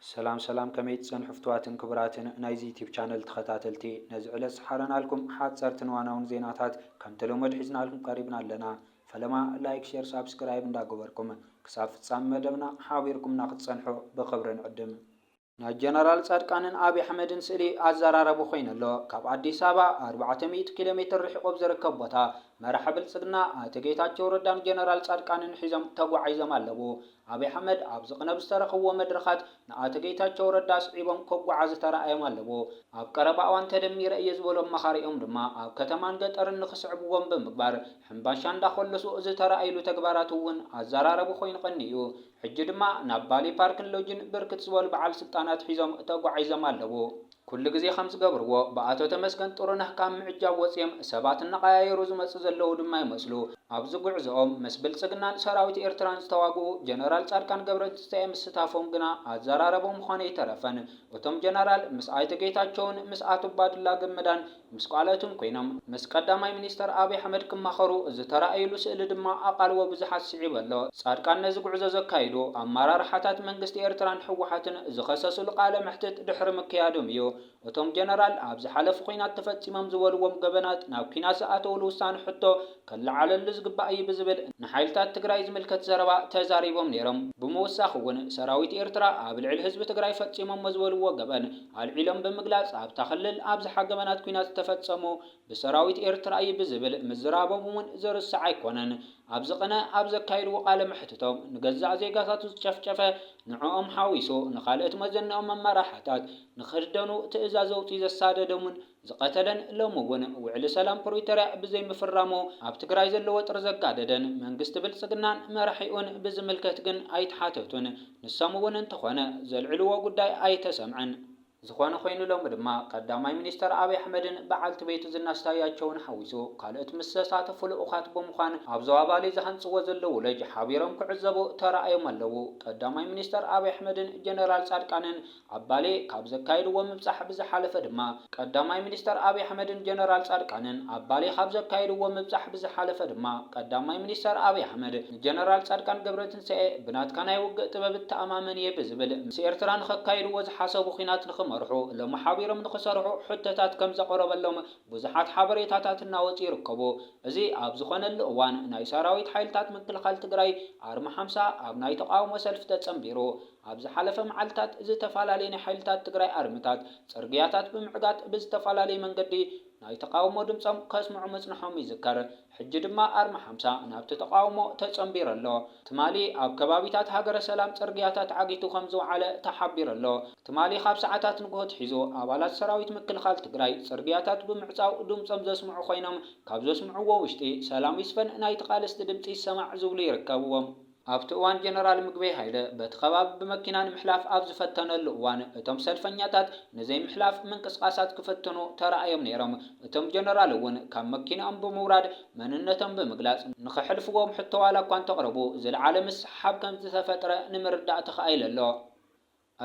ሰላም ሰላም ከመይ ትጸንሑ ፍትዋትን ክቡራትን ናይዚ ዩቲብ ቻነል ተኸታተልቲ ነዚ ዕለት ዝሓረናልኩም ሓጸርትን ዋናውን ዜናታት ከምተለመድ ሒዝናልኩም ቀሪብና ኣለና ፈለማ ላይክ ሸር ሳብስክራይብ እንዳ ገበርኩም ክሳብ ፍጻሚ መደብና ሓቢርኩምና ክትጸንሑ ብኽብሪ ንዕድም። ናይ ጀነራል ጻድቃንን ኣብይ ኣሕመድን ስእሊ ኣዘራራቢ ኮይኑ ኣሎ። ካብ ኣዲስ ኣበባ ኣርባዕተ ሚእቲ ኪሎ ሜትር ርሒቑ ኣብ ዝርከብ ቦታ መራሒ ብልጽግና ኣቶ ጌታቸው ረዳን ጀነራል ጻድቃንን ሒዞም ተጓዒዞም ኣለዉ። ኣብይ ኣሕመድ ኣብዚ ቅነ ብዝተረኸብዎ መድረኻት ንኣቶ ጌታቸው ረዳ ኣስዒቦም ከጓዓዙ ተራእዮም ኣለዎ። ኣብ ቀረባ እዋን ተደሚረ እየ ዝበሉ ኣማኻሪኦም ድማ ኣብ ከተማን ገጠርን ንክስዕብዎም ብምግባር ሕምባሻ እንዳኾለሱ ዝተራእይሉ ተግባራት እውን ኣዘራረቢ ኮይኑ ቀኒዩ። ሕጂ ድማ ናብ ባሌ ፓርክን ሎጅን ብርክት ዝበሉ በዓል ስልጣናት ሒዞም ተጓዒዞም ኣለዉ። ኩሉ ግዜ ከም ዝገብርዎ ብኣቶ ተመስገን ጥሩነህ ካብ ምዕጃብ ወጺኦም ሰባት እናቐያየሩ ዝመጹ ዘለዉ ድማ ይመስሉ። ኣብዚ ጉዕዞኦም ምስ ብልጽግናን ሰራዊት ኤርትራን ዝተዋግኡ ጀነራል ጻድቃን ገብረትንሳኤ ምስታፎም ግና ኣዘራረቦም ምዃኑ ኣይተረፈን። እቶም ጀነራል ምስ ኣይተ ጌታቸውን ምስ ኣቶ ባዱላ ገመዳን ምስ ቃልኦትን ኮይኖም ምስ ቀዳማይ ሚኒስተር ኣብይ ኣሕመድ ክማኸሩ ዝተራእይሉ ስእሊ ድማ ኣቓልቦ ብዙሓት ስዒቡ ኣሎ። ጻድቃን ነዚ ጉዕዞ ዘካይዱ ኣመራርሓታት መንግስቲ ኤርትራን ህወሓትን ዝኸሰስሉ ቃለ መሕትት ድሕሪ ምክያዶም እዩ። እቶም ጀነራል ኣብ ዝሓለፉ ኲናት ተፈጺሞም ዝበልዎም ገበናት ናብ ኲናት ዝኣተውሉ ውሳነ ሕቶ ክለዓለሉ ዝግባእ እዩ ብዝብል ንሓይልታት ትግራይ ዝምልከት ዘረባ ተዛሪቦም ነይሮም። ብምውሳኽ እውን ሰራዊት ኤርትራ ኣብ ልዕሊ ህዝቢ ትግራይ ፈፂሞሞ ዝበልዎ ገበን ኣልዒሎም ብምግላፅ ኣብታ ክልል ኣብዝሓ ገበናት ኲናት ዝተፈፀሙ ብሰራዊት ኤርትራ እዩ ብዝብል ምዝራቦም እውን ዝርሳዕ ኣይኮነን። ኣብዚ ቅነ ኣብ ዘካየድዎ ቃለ መሕትቶም ንገዛእ ዜጋታቱ ዝጨፍጨፈ ንዕኦም ሓዊሱ ንካልእት መዘነኦም መመራሕታት ንክህደኑ ትእዛዝ ኣውፂኡ ዘሳደዶም እውን ዝቐተለን ሎሚ እውን ውዕሊ ሰላም ፕሪቶርያ ብዘይምፍራሙ ኣብ ትግራይ ዘሎ ወጥሪ ዘጋደደን መንግስቲ ብልፅግናን መራሒኡን ብዝምልከት ግን ኣይተሓተቱን። ንሶም እውን እንተኾነ ዘልዕልዎ ጉዳይ ኣይተሰምዐን። ዝኾነ ኾይኑ ሎሚ ድማ ቀዳማይ ሚኒስትር ኣብይ ኣሕመድን በዓልቲ ቤቱ ዝናሽ ታያቸውን ሓዊሱ ካልኦት ምስ ዝተሳተፉ ልኡኻት ብምዃን ኣብ ዞባ ባሌ ዝሃንፅዎ ዘለዉ ሎጅ ሓቢሮም ክዕዘቡ ተራእዮም ኣለዉ። ቀዳማይ ሚኒስትር ኣብይ ኣሕመድን ጀነራል ፃድቃንን ኣብ ባሌ ካብ ዘካየድዎ ምብጻሕ ብዝሓለፈ ድማ ቀዳማይ ሚኒስተር ኣብይ ኣሕመድን ጀነራል ጻድቃንን ኣብ ባሌ ካብ ዘካየድዎ ምብጻሕ ብዝሓለፈ ድማ ቀዳማይ ሚኒስተር ኣብይ ኣሕመድ ንጀነራል ጻድቃን ገብረትንሳኤ ብናትካ ናይ ውግእ ጥበብ እተኣማመን እየ ብዝብል ምስ ኤርትራ ንኸካይድዎ ዝሓሰቡ ኲናት ንኽመርሑ እሎም ሓቢሮም ንኽሰርሑ ሕቶታት ከም ዘቕረበሎም ብዙሓት ሓበሬታታት እናወጹ ይርከቡ። እዚ ኣብ ዝኾነሉ እዋን ናይ ሰራዊት ሓይልታት ምክልኻል ትግራይ ኣርማ ሓምሳ ኣብ ናይ ተቓውሞ ሰልፊ ተጸንቢሩ ኣብ ዝሓለፈ መዓልታት ዝተፈላለየ ናይ ሓይልታት ትግራይ ኣርምታት ጽርግያታት ብምዕጋት ብዝተፈላለየ መንገዲ ናይ ተቓውሞ ድምጾም ከስምዑ ምጽንሖም ይዝከር። ሕጂ ድማ ኣርማ ሓምሳ ናብቲ ተቓውሞ ተጸንቢሩ ኣሎ። ትማሊ ኣብ ከባቢታት ሃገረ ሰላም ጽርግያታት ዓጊቱ ከም ዝወዓለ ተሓቢሩ ኣሎ። ትማሊ ካብ ሰዓታት ንግሆ ኣትሒዙ ኣባላት ሰራዊት ምክልኻል ትግራይ ጽርግያታት ብምዕጻው ድምጾም ዘስምዑ ኮይኖም ካብ ዘስምዕዎ ውሽጢ ሰላም ይስፈን ናይ ተቓለስቲ ድምጺ ይሰማዕ ዝብሉ ይርከብዎም። ኣብቲ እዋን ጀነራል ምግበይ ሃይለ በቲ ከባቢ ብመኪና ንምሕላፍ ኣብ ዝፈተነሉ እዋን እቶም ሰልፈኛታት ንዘይምሕላፍ ምንቅስቓሳት ክፍትኑ ተራእዮም ነይሮም። እቶም ጀነራል እውን ካብ መኪንኦም ብምውራድ መንነቶም ብምግላፅ ንኸሕልፍዎም ሕቶ ዋላ እኳ እንተቕረቡ ዝለዓለ ምስሕሓብ ከምዝተፈጥረ ንምርዳእ ተኻኢሉ ኣሎ።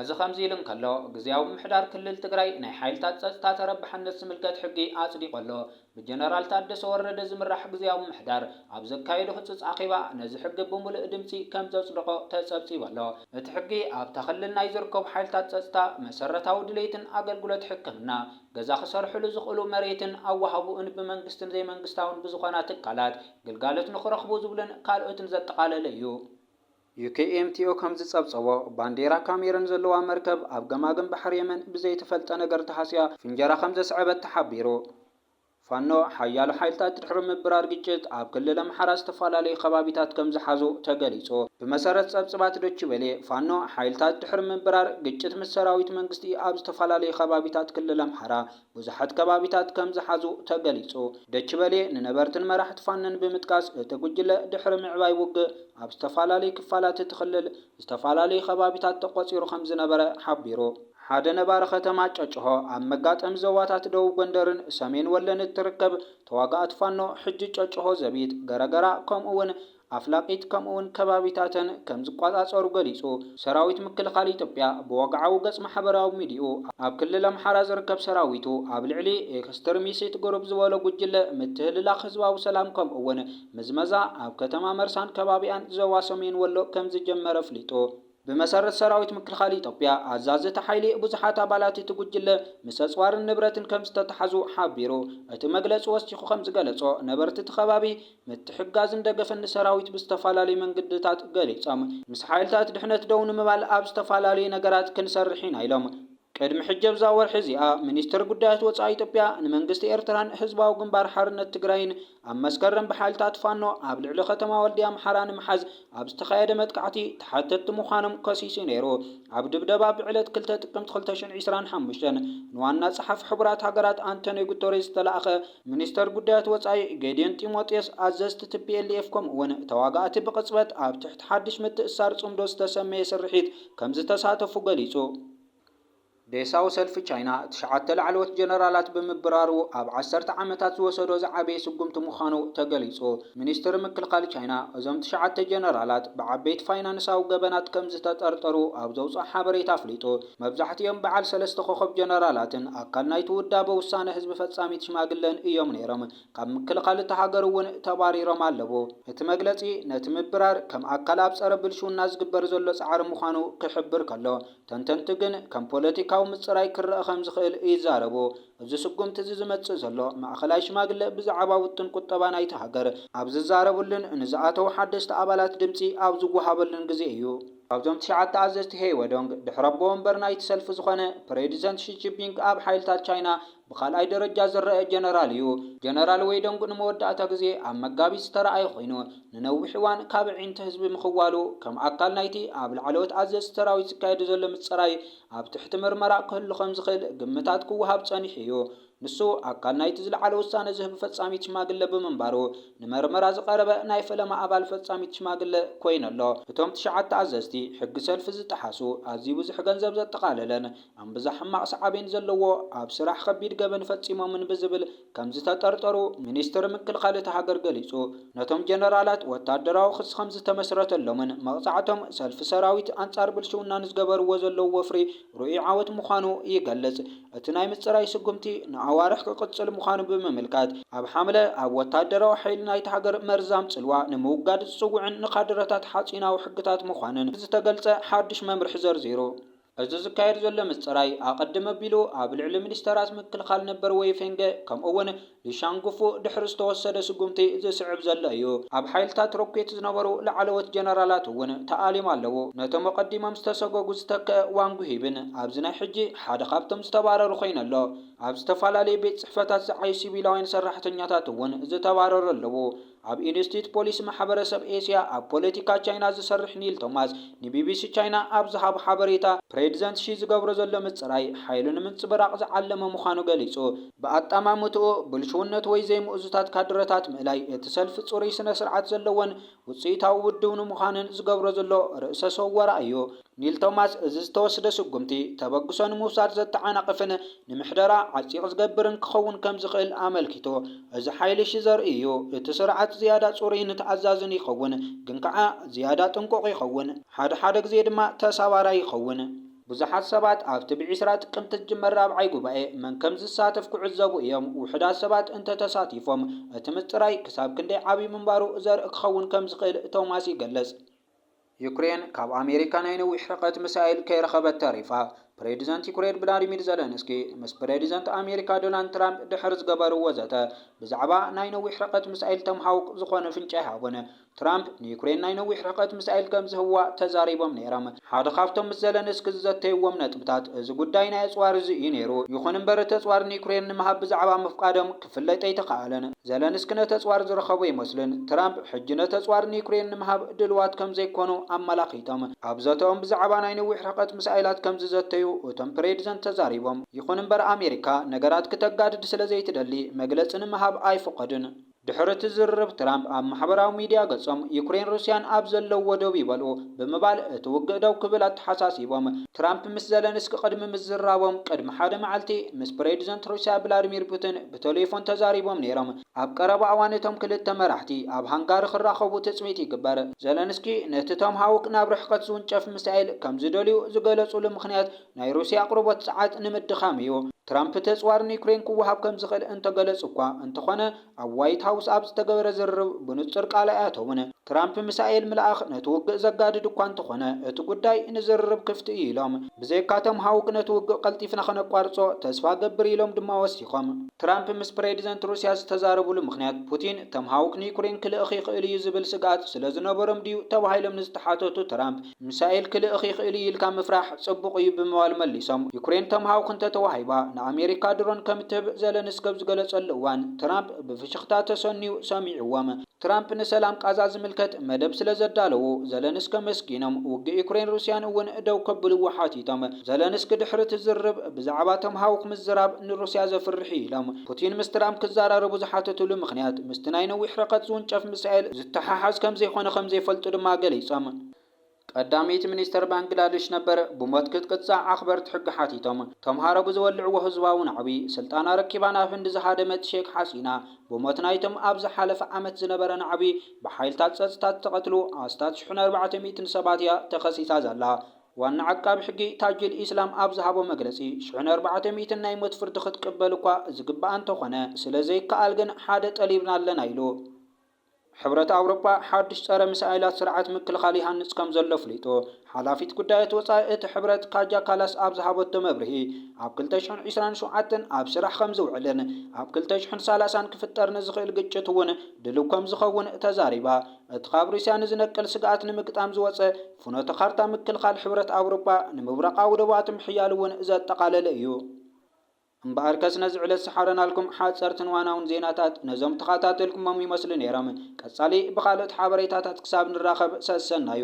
እዚ ከምዚ ኢሉ እንከሎ፣ ግዝያዊ ምምሕዳር ክልል ትግራይ ናይ ሓይልታት ፀፅታ ተረባሕነት ዝምልከት ሕጊ ኣፅዲቑ ኣሎ። ብጀነራል ታደሰ ወረደ ዝምራሕ ግዝያዊ ምምሕዳር ኣብ ዘካየዶ ህፁፅ ኣኼባ ነዚ ሕጊ ብሙሉእ ድምፂ ከምዘፅደቖ ተፀብፂቡ ኣሎ። እቲ ሕጊ ኣብታ ክልል ናይ ዝርከቡ ሓይልታት ፀፅታ መሰረታዊ ድሌትን ኣገልግሎት ሕክምና፣ ገዛ ክሰርሕሉ ዝኽእሉ መሬትን ኣወሃህብኡን ብመንግስትን ዘይመንግስታውን ብዝኾና ትካላት ግልጋሎት ንኽረኽቡ ዝብሉን ካልኦትን ዘጠቓለለ እዩ። UKMTO ከም ዝጸብጸቦ፣ ባንዴራ ካሜሩን ዘለዋ መርከብ ኣብ ገማግም ባሕሪ የመን ብዘይተፈልጠ ነገር ተሃስያ ፍንጀራ ከም ዘስዐበት ተሓቢሩ። ፋኖ፣ ሓያሎ ሓይልታት ድሕሪ ምብራር ግጭት፣ ኣብ ክልል ኣምሓራ ዝተፈላለዩ ከባቢታት ከም ዝሓዙ ተገሊጹ። ብመሰረት ጸብጽባት ዶች ቨሌ፣ ፋኖ፣ ሓይልታት ድሕሪ ምብራር ግጭት ምስ ሰራዊት መንግስቲ ኣብ ዝተፈላለዩ ከባቢታት ክልል ኣምሓራ ብዙሓት ከባቢታት ከም ዝሓዙ ተገሊጹ። ደች በሌ ንነበርትን መራሕቲ ፋኖን ብምጥቃስ እቲ ጉጅለ ድሕሪ ምዕባይ ውግእ ኣብ ዝተፋላለዩ ክፋላት እቲ ክልል ዝተፋላለዩ ከባቢታት ተቆጺሩ ከም ዝነበረ ሓቢሩ። ሓደ ነባሪ ከተማ ጨጨሆ ኣብ መጋጠሚ ዞባታት ደቡብ ጎንደርን ሰሜን ወሎን እትርከብ ተዋጋእቲ ፋኖ ሕጂ ጨጨሆ ዘቢጥ፣ ገረገራ ከምኡ ውን ኣፍላቂት ከምኡ'ውን ከባቢታተን ከም ዝቆጻጸሩ ገሊጹ። ሰራዊት ምክልኻል ኢትዮጵያ ብወግዓዊ ገጽ ማሕበራዊ ሚዲይኡ፣ ኣብ ክልል ኣምሓራ ዝርከብ ሰራዊቱ ኣብ ልዕሊ ኤክስትርሚሲት ግሩፕ ዝበሎ ጉጅለ ምትህልላኽ ህዝባዊ ሰላም ከምኡ'ውን ምዝመዛ ኣብ ከተማ መርሳን ከባቢኣን ዞባ ሰሜን ወሎ ከም ዝጀመረ ኣፍሊጡ። ብመሰረት ሰራዊት ምክልኻል ኢትዮጵያ፣ ኣዛዚ እቲ ሓይሊ ብዙሓት ኣባላት እቲ ጉጅለ ምስ ኣጽዋርን ንብረትን ከምዝተታሕዙ ሓቢሩ። እቲ መግለጺ ወሲኹ ከምዝገለጾ፣ ነበርቲ እቲ ከባቢ ምትሕግጋዝን ደገፍን ንሰራዊት ብዝተፈላለዩ መንግድታት ገሊጾም። ምስ ሓይልታት ድሕነት ደው ንምባል ኣብ ዝተፈላለዩ ነገራት ክንሰርሕ ኢና ኢሎም። ቅድሚ ሕጂ ኣብዛ ወርሒ እዚኣ ሚኒስተር ጉዳያት ወጻኢ ኢትዮጵያ ንመንግስቲ ኤርትራን ህዝባዊ ግንባር ሓርነት ትግራይን ኣብ መስከረም ብሓይልታት ፋኖ ኣብ ልዕሊ ከተማ ወልድያ ኣምሓራ ንምሓዝ ኣብ ዝተኻየደ መጥቃዕቲ ተሓተትቲ ምዃኖም ከሲሱ ነይሩ። ኣብ ድብደባ ብዕለት ክልተ ጥቅምቲ ክልተ ሽሕን ዕስራን ሓሙሽተን ንዋና ጸሓፊ ሕቡራት ሃገራት ኣንቶንዮ ጉተሬዝ ዝተላእከ ሚኒስተር ጉዳያት ወጻኢ ጌድዮን ጢሞቴዎስ ኣዘዝቲ ትፒኤልኤፍ ከምኡ'ውን ተዋጋእቲ ብቕጽበት ኣብ ትሕቲ ሓድሽ ምትእስሳር ጽምዶ ዝተሰመየ ስርሒት ከምዝተሳተፉ ገሊጹ። ዴሳው ሰልፊ ቻይና ትሽዓተ ላዕለዎት ጀነራላት ብምብራሩ ኣብ ዓሰርተ ዓመታት ዝወሰዶ ዝዓበየ ስጉምቲ ምዃኑ ተገሊጹ። ሚኒስትሪ ምክልኻል ቻይና እዞም ትሽዓተ ጀነራላት ብዓበይቲ ፋይናንሳዊ ገበናት ከምዝተጠርጠሩ ኣብ ዘውጽኦ ሓበሬታ ኣፍሊጡ። መብዛሕቲኦም በዓል ሰለስተ ኮኾብ ጀነራላትን ኣካል ናይቲ ውዳበ ውሳነ ህዝቢ ፈጻሚት ሽማግለን እዮም ነይሮም። ካብ ምክልኻል እታ ሃገር እውን ተባሪሮም ኣለዉ። እቲ መግለጺ ነቲ ምብራር ከም ኣካል ኣብ ጸረ ብልሽውና ዝግበር ዘሎ ጻዕሪ ምዃኑ ክሕብር ከሎ፣ ተንተንቲ ግን ከም ፖለቲካዊ ምጽራይ ክረኣ ከም ዝኽእል ይዛረቡ። እዚ ስጉምቲ እዚ ዝመጽእ ዘሎ፣ ማእከላይ ሽማግለ ብዛዕባ ውጥን ቁጠባ ናይታ ሃገር ኣብ ዝዛረብሉን ንዝኣተዉ ሓደስቲ ኣባላት ድምጺ ኣብ ዝወሃበሉን ግዜ እዩ። ካብዞም ትሽዓተ ኣዘዝቲ ሄይወዶንግ፣ ድሕሪ ኣቦ ወንበር ናይቲ ሰልፊ ዝዀነ ፕሬድዘንት ሺ ጂፒንግ ኣብ ሓይልታት ቻይና ብኻልኣይ ደረጃ ዝረኣ ጀነራል እዩ። ጀነራል ወይ ደንጉ ንመወዳእታ ግዜ ኣብ መጋቢት ዝተራኣየ ኮይኑ፣ ንነዊሕ እዋን ካብ ኣዒንቲ ህዝቢ ምኽዋሉ፣ ከም ኣካል ናይቲ ኣብ ላዕለዎት ኣዘዝቲ ሰራዊት ዝካየድ ዘሎ ምጽራይ ኣብ ትሕቲ ምርመራ ክህሉ ከም ዝኽእል ግምታት ክወሃብ ጸኒሑ እዩ። ንሱ ኣካል ናይቲ ዝለዓለ ውሳነ ዝህብ ፈጻሚት ሽማግለ ብምንባሩ፣ ንመርመራ ዝቐረበ ናይ ፈለማ ኣባል ፈጻሚት ሽማግለ ኮይኑ ኣሎ። እቶም ትሽዓተ ኣዘዝቲ፣ ሕጊ ሰልፊ ዝጠሓሱ፣ ኣዝዩ ብዙሕ ገንዘብ ዘጠቓለለን፣ እምብዛ ሕማቕ ሳዕቤን ዘለዎ ኣብ ስራሕ ከቢድ ገበን ፈጺሞምን ብዝብል ከምዝተጠርጠሩ ሚኒስትሪ ምክልኻል እታ ሃገር ገሊጹ። ነቶም ጀነራላት ወታደራዊ ክሲ ከምዝተመስረተሎምን መቕጻዕቶም ሰልፊ ሰራዊት ኣንጻር ብልሽውና ንዝገበርዎ ዘለዉ ወፍሪ ርኡይ ዓወት ምዃኑ ይገልጽ። እቲ ናይ ምጽራይ ስጉምቲ ንኣዋርሕ ክቕጽል ምዃኑ ብምምልካት፣ ኣብ ሓምለ ኣብ ወታደራዊ ሓይሊ ናይታ ሃገር መርዛም ጽልዋ ንምውጋድ ዝጽውዕን ንካድረታት ሓጺናዊ ሕግታት ምዃንን ዝተገልጸ ሓድሽ መምርሒ ዘርዚሩ። እዚ ዝካየድ ዘሎ ምጽራይ፣ ኣቐድም ኣቢሉ ኣብ ልዕሊ ሚኒስተራት ምክልኻል ነበር ዌይ ፌንገ ከምኡ'ውን ሊ ሻንግፉ ድሕሪ ዝተወሰደ ስጉምቲ ዝስዕብ ዘሎ እዩ። ኣብ ሓይልታት ሮኬት ዝነበሩ ላዕለዎት ጀነራላት እውን ተኣልዮም ኣለዉ፣ ነቶም ኣቐዲሞም ዝተሰጎጉ ዝተከኣ ዋንግ ሂብን ኣብዚ ናይ ሕጂ ሓደ ካብቶም ዝተባረሩ ኮይኑ ኣሎ። ኣብ ዝተፈላለዩ ቤት ጽሕፈታት ዝዓዩ ሲቪላውያን ሰራሕተኛታት እውን ዝተባረሩ ኣለዉ። ኣብ ኢንስቲትዩት ፖሊሲ ማሕበረሰብ ኤስያ ኣብ ፖለቲካ ቻይና ዝሰርሕ ኒል ቶማስ ንቢቢሲ ቻይና ኣብ ዝሃቦ ሓበሬታ፣ ፕሬዚደንት ሺ ዝገብሮ ዘሎ ምፅራይ ሓይሉ ንምንፅብራቕ ዝዓለመ ምዃኑ ገሊፁ። ብኣጠማምትኡ፣ ብልሽውነት ወይ ዘይምእዙታት ካድረታት ምእላይ፣ እቲ ሰልፊ ፅሩይ ስነ-ስርዓት ዘለዎን ውፅኢታዊ ውድብ ንምዃንን ዝገብሮ ዘሎ ርእሰ-ሰወራ እዩ። ኒል ቶማስ እዚ ዝተወስደ ስጉምቲ ተበግሶ ንምውሳድ ዘተዓናቕፍን ንምሕደራ ዓጺቕ ዝገብርን ክኸውን ከም ዝኽእል ኣመልኪቱ። እዚ ሓይል'ሺ ዘርኢ እዩ። እቲ ስርዓት ዝያዳ ጽሩይን ተኣዛዝን ይኸውን፣ ግን ከኣ ዝያዳ ጥንቁቕ ይኸውን፣ ሓደ ሓደ ግዜ ድማ ተሳባራይ ይኸውን። ብዙሓት ሰባት ኣብቲ ብ ዕስራ ጥቅምቲ ዝጅመር ራብዓይ ጉባኤ መን ከም ዝሳተፍ ክዕዘቡ እዮም። ውሑዳት ሰባት እንተ ተሳቲፎም እቲ ምጽራይ ክሳብ ክንደይ ዓቢ ምንባሩ ዘርኢ ክኸውን ከም ዝኽእል ቶማስ ይገልጽ። ዩክሬን ካብ ኣሜሪካ ናይ ነዊሕ ርሕቀት ምሳይል ከይረኸበት ተሪፋ። ፕሬዚደንት ዩክሬን ቭላድሚር ዘለንስኪ ምስ ፕሬዚደንት ኣሜሪካ ዶናልድ ትራምፕ ድሕሪ ዝገበርዎ ዘተ ብዛዕባ ናይ ነዊሕ ርሕቀት ምሳይል ቶምሃውክ ዝኾነ ፍንጪ ኣይሃቡን። ትራምፕ ንዩክሬን ናይ ነዊሕ ርሕቀት ምሳይል ከምዝህብዋ ተዛሪቦም ነይሮም። ሓደ ካብቶም ምስ ዘለንስኪ ዝዘተይዎም ነጥብታት እዚ ጉዳይ ናይ ኣፅዋር እዚ እዩ ነይሩ። ይኹን እምበር እቲ ኣፅዋር ንዩክሬን ንምሃብ ብዛዕባ ምፍቃዶም ክፍለጥ ኣይተኻእለን። ዘለንስኪ ነቲ ኣጽዋር ዝረኸቡ ኣይመስሉን። ትራምፕ ሕጂ ነቲ ኣጽዋር ንዩክሬን ንምሃብ ድሉዋት ከም ዘይኰኑ ኣመላኺቶም፣ ኣብ ዘተኦም ብዛዕባ ናይ ነዊሕ ርሕቀት ሚሳይላት ከም ዝዘተዩ እቶም ፕሬድዘንት ተዛሪቦም። ይኹን እምበር ኣሜሪካ ነገራት ክተጋድድ ስለ ዘይትደሊ መግለጺ ንምሃብ ኣይፍቐዱን። ድሕሪ እቲ ዝርርብ ትራምፕ ኣብ ማሕበራዊ ሚድያ ገጾም፣ ዩክሬን ሩስያን ኣብ ዘለዉዎ ደው ይበሉ፣ ብምባል እቲ ውግእ ደው ክብል ኣተሓሳሲቦም። ትራምፕ ምስ ዘለንስኪ ቅድሚ ምዝራቦም፣ ቅድሚ ሓደ መዓልቲ ምስ ፕሬድዘንት ሩስያ ብላድሚር ፑቲን ብተሌፎን ተዛሪቦም ነይሮም። ኣብ ቀረባ እዋን እቶም ክልተ መራሕቲ ኣብ ሃንጋሪ ክራኸቡ ትጽቢት ይግበር። ዘለንስኪ ነቲ ቶምሃውክ ናብ ርሕቀት ዝውንጨፍ ሚሳኤል ከም ዝደልዩ ዝገለጹሉ ምኽንያት ናይ ሩስያ ኣቕርቦት ጸዓት ንምድኻም እዩ። ትራምፕ እቲ ኣጽዋር ንዩክሬን ክወሃብ ከም ዝኽእል እንተገለጹ'ኳ እንተኾነ፣ ኣብ ዋይት ሃውስ ኣብ ዝተገበረ ዝርርብ ብንጹር ቃል ኣይኣተዉን። ትራምፕ ሚሳኤል ምልኣኽ ነቲ ውግእ ዘጋድድ እኳ እንተኾነ፣ እቲ ጉዳይ ንዝርርብ ክፍቲ እዩ ኢሎም። ብዘይካ ቶም ሃውክ ነቲ ውግእ ቀልጢፍና ከነቋርጾ ተስፋ እገብር ኢሎም ድማ ወሲኾም። ትራምፕ ምስ ፕሬዚደንት ሩስያ ዝተዛረብሉ ምኽንያት፣ ፑቲን ቶም ሃውክ ንዩክሬን ክልእኽ ይኽእል እዩ ዝብል ስግኣት ስለዝነበሮም ድዩ ተባሂሎም ንዝተሓተቱ ትራምፕ፣ ሚሳኤል ክልእኽ ይኽእል እዩ ኢልካ ምፍራሕ ጽቡቕ እዩ ብምባል መሊሶም። ዩክሬን ተምሃውክ እንተተዋሂባ ንኣሜሪካ ድሮን ከም እትህብ ዘለንስኪ ኣብ ዝገለጸሉ እዋን ትራምፕ ብፍሽኽታ ተሰንዩ ሰሚዕዎም። ትራምፕ ንሰላም ቃዛ ዝምልከት መደብ ስለ ዘዳለዉ ዘለንስኪ ኣመስጊኖም፣ ውግእ ዩክሬን ሩስያን እውን ደው ከብልዎ ሓቲቶም። ዘለንስኪ ድሕሪ እቲ ዝርርብ ብዛዕባ ተምሃውክ ምዝራብ ንሩስያ ዘፍርሕ እዩ ኢሎም። ፑቲን ምስ ትራምፕ ክዘራረቡ ዝሓተትሉ ምኽንያት ምስቲ ናይ ነዊሕ ርሕቀት ዝውንጨፍ ሚሳኤል ዝተሓሓዝ ከም ዘይኮነ ከም ዘይፈልጡ ድማ ገሊጾም። ቀዳመይቲ ሚኒስተር ባንግላድሽ ነበር ብሞት ክትቅጻዕ ኣኽበርቲ ሕጊ ሓቲቶም። ተምሃሮ ብዝወልዕዎ ህዝባዊ ናዕቢ፣ ስልጣና ኣረኪባ ናብ ህንዲ ዝሃደመት ሼክ ሓሲና፣ ብሞት ናይቶም ኣብ ዝሓለፈ ዓመት ዝነበረ ናዕቢ ብሓይልታት ጸጥታ ዝተቐትሉ ኣስታት ሽሕን ኣርባዕተ ሚእትን ሰባት እያ ተኸሲሳ ዘላ። ዋና ዓቃቢ ሕጊ ታጁል ኢስላም ኣብ ዝሃቦ መግለጺ፣ ሽሕን ኣርባዕተ ሚእትን ናይ ሞት ፍርዲ ክትቅበል እኳ ዝግብኣ እንተኾነ፣ ስለዘይከኣል ግን ሓደ ጠሊብና ኣለና ኢሉ። ሕብረት ኣውሮጳ ሓዱሽ ጸረ ሚሳይላት ስርዓት ምክልኻል ይሃንጽ ከምዘሎ ኣፍሊጡ። ሓላፊት ጉዳያት ወጻኢ እቲ ሕብረት ካጃ ካላስ ኣብ ዝሃበቶ መብርሂ፣ ኣብ ክልተ ሽሕን ዕስራን ሸውዓተን ኣብ ስራሕ ከምዝውዕልን ኣብ ክልተ ሽሕን ሰላሳን ክፍጠር ንዝኽእል ግጭት'ውን ድልው ከምዝኸውን ተዛሪባ። እቲ ካብ ሩስያ ንዝነቅል ስግኣት ንምግጣም ዝወጸ ፍኖተ ካርታ ምክልኻል ሕብረት ኣውሮጳ፣ ንምብራቓዊ ዶባቱ ምሕያል'ውን ዘጠቓለለ እዩ። እምበኣርከስ ነዚ ዕለት ዝሓረናልኩም ሓጸርትን ዋናውን ዜናታት ነዞም ተኻታተልኩሞም ይመስሉ ነይሮም። ቀጻሊ ብኻልኦት ሓበሬታታት ክሳብ ንራኸብ ሰሰናዩ።